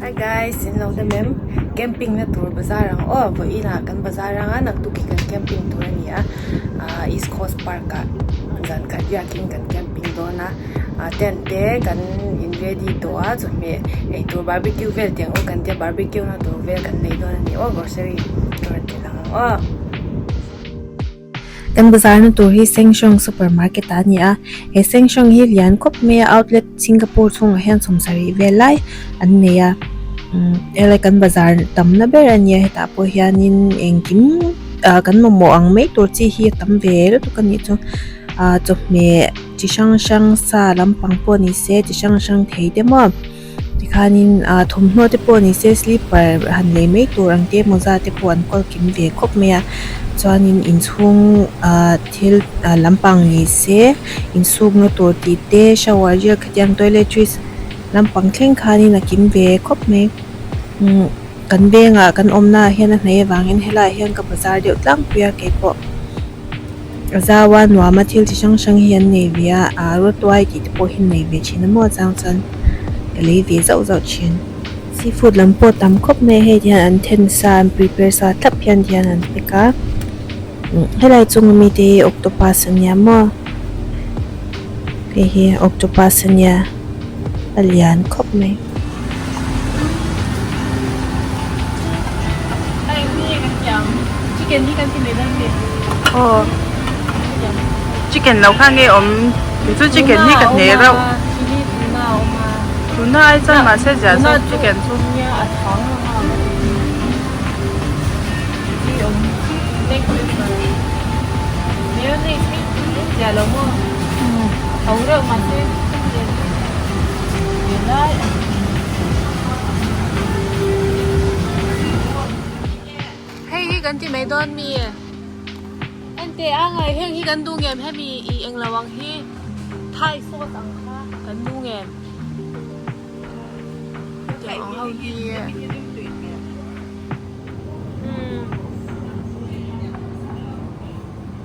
Hi guys, in lo dem em camping na tur bazar ang aw vawi in ah kan bazar anga nak tuk hi kan camping tur a ni a ahh east coast park ah zan khat biak in kan camping dawn a ahh tent te kan in ready tawh a chawhmeh ei tur barbeque vel tih ang u kan tia barbeque na tur vel kan nei dawn a ni aw grocery tur an tih ang aw. Kan bazarna tur hi Sengshawng Supermarket a ni a, he Sengshawng hi lian khawp mai a, outlet Singapore chhungah hian sawm sarih vel lai an nei a, helai kan bazar tamna ber a ni a, hetah pawh hianin engkim kan mamawh ang mai tur chi hi a tam ve lutuk a nih chuan chawhmeh chi hrang hrang sa lampang pawh ni se chi hrang hrang thei te maw. Tikhanin aa thawmhnaw te pawh ni se slipper han nei mai tur ang te mawza te pawh an kawl kim ve khawp mai a chuanin inchhung aa thil aa lampang ni se insukna tur tih te shower gel khatiang toiletries lampang thleng khanin a kim ve khawp mai umm kan bengah kan awmna ah hian a hnaih avangin helaiah hian ka bazar deuh tlangpui a kei pawh. A zau a, nuam a, thil chi hrang hrang hi an nei ve a, aa raw tuai tih te pawh hi an nei ve thin a maw chang chuan ka lei ve zauh zauh thin. Seafood lam pawh tam khawp mai a, hei te hian an then sa an prepare sa thlap hian ti hian an pack a, helai chunga mi te hi octopus a nia maw, hei hi octopus a nia. a lian khawp mai. Hei hi kan ti mai dawn mi e? Ente angai heng hi kan duh ngem hemi i eng lo ang hi Thai sawt ang kha kan duh ngem hetiang ang ho hi e.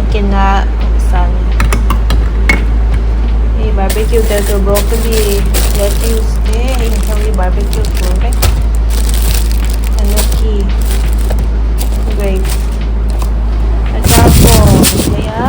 a kena san hei barbecue tel tur broccoli lettuce te a inchawm hi barbecue tur vek enoki grapes a char pawh a awm mai a.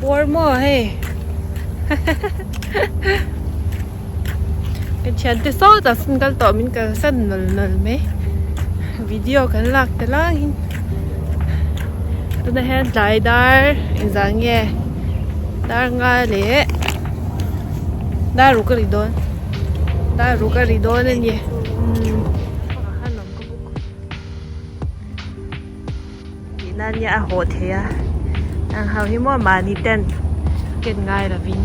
Bawr maw hei? Kan thiante saw ta sin kal tawh min kal san nol nol mai. Video kan lak te lang hin. Tuna hian tlai dar inzal nge dar nga leh dar ru ka ri dawn. Dar ru ka ri dawn a ni. Tih nan nia a hawh thei a. Ang ho hi maw mahni ten ken ngai lovin.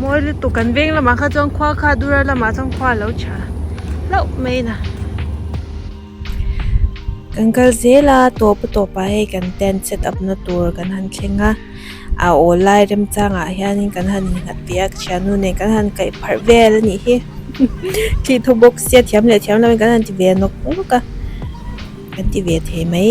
Mawi lutuk kan veng lamah kha chuan khua kha Dural lamah chuan khua lo tha hlauh mai nè. Kan kal zel a, tawpu tawpah hei kan tent set up na tur kan han thleng a, a awl lai remchangah hian in kan han innghat tih a, ka chhia nu nen kan han kaih pharh vel a nih hi, khi tho bawk sia thiam leh thiam lo in kan han ti ve nawk nawk a, kan ti ve thei mai.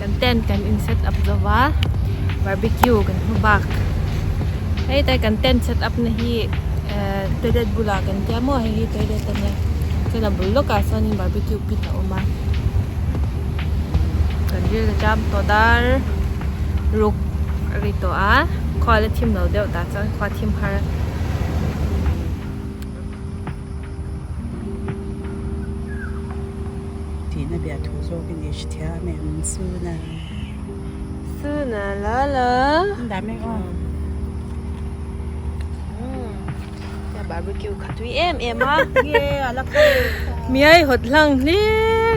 Kan tent kan in set up zo va, barbecue kan hmu bak. Hei te kan tent set up na hi toilet bulah kan tia maw, hei hi toilet a nia. Chuan a bul lawkah sawnin barbecue pit a awm a. Kan ril a cham tawh dar, ruk a ri tawh a, khual a thim lo deuh tah chuan khua thim har. Tihna bia thu zawk i nih hrithiam em Suna? Suna Lala. An dah mek aw. Ka barbecue kha tui em em a. Nge ala kha. Miai hot hlang hle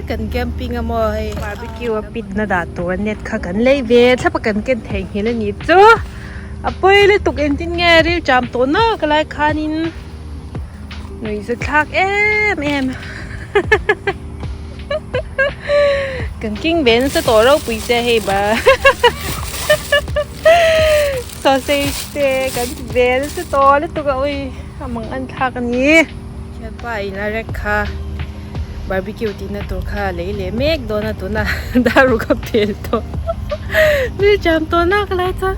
kan camping a maw hei. Barbecue a pit na dah tur net kha kan lei ve thlapa kan ken thei nghil a ni chu. a pawi lutuk engtin nge rilṭam tawh naka lai khanin nuih zathlak em em hahahaha kan king ve nasa tawh ropui se hei ba sausage te kan ve nasa tawh lutuk a ui a mang anthlak a ni. Thianpa in a rek kha barbecue ti na tur kha lei leh mek dawn a tuna daru ka pel tawh mi cham tawh na ka lai chuan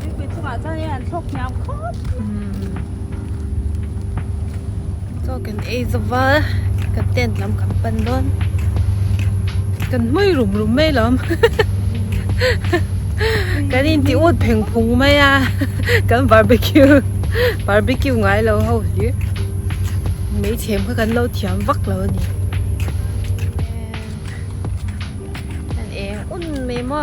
Tuipui chungah chuan in an thlawk hniam khawp. Chaw kan ei zova kan tent lam kan pan dawn. Kan hmui rum rum mai lo. Kan in ti ut pheng phung mai a. Kan barbecue barbecue ngai lo ho hi. Mấy thiam kha kan lo thiam vak lo ni. Kan eng un mai mo.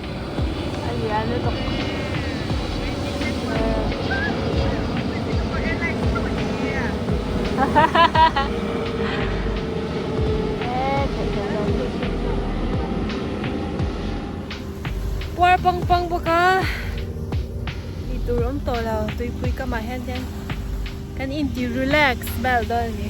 Puar pang pang bawk a, ti tur awm tawh lo, tuipui kam ah hian hian kan in ti relax bel dawn a ni.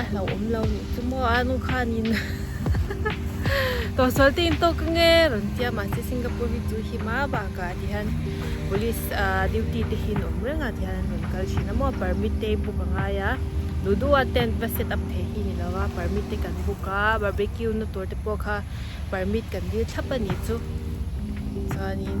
a hlauhawm lo anih chu maw a nu khanin tawhsawl te in tawk ang e rawn tia mahse singapore hi chu hi hma bakah ti hian police duty te hi in awm reng a ti hian an rawn kal thin a maw permit te book a ngai a duhduh a tent va set up theih hi ni lo a permit te kan book a barbeque na tur te pawh kha permit kan dil thlap anih chu chuanin.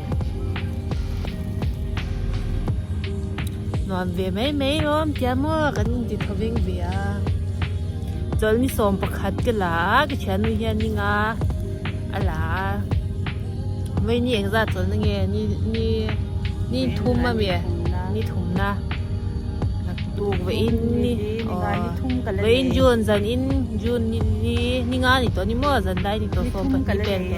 nuam ve mai mai awm tia maw kan inti tho veng ve a chawl ni sawm pakhat ka la a ka thiannu hian ni nga a la a mai ni eng zat chawlh na nge ni ni ni thum a mi ni thum na tuk ve in ni ve in jun zan in jun ni ni ni nga ni to ni maw zan dai ni to sawm pahnih pen to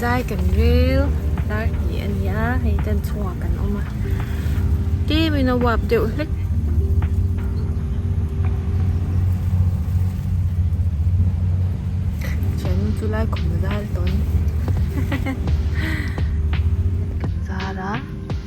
Chai kan rel tar ti a ni a hei tan chunga kan awm a tim in a wap deuh hlek thian in chu lai khum a zal tawn kan zar a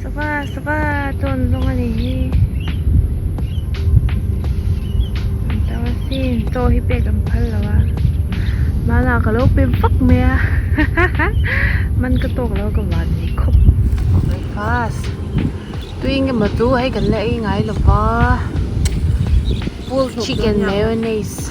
Sava sava ton zong ani hi An tau a sin chaw hi pek an phal lo a Mana ka lo pem fak mai a Man ka tawk lo ka van nei khawp Breakfast Tuing emaw chu hei kan la ei ngai lova Pool chicken mayonnaise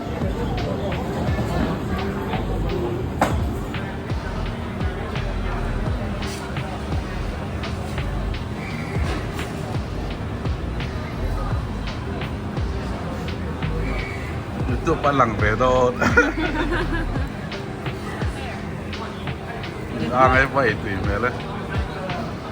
pa lang ve dawt a ngai pai tui hmel e.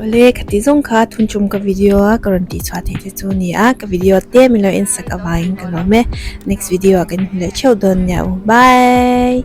Awle ka ti zawng kha thun tum ka video a ka rawn tih chhuah theih te chu a ni a ka video te min lo en sak avang in ka lo awm e next video ah kan hmu leh theuh dawn nia u bye.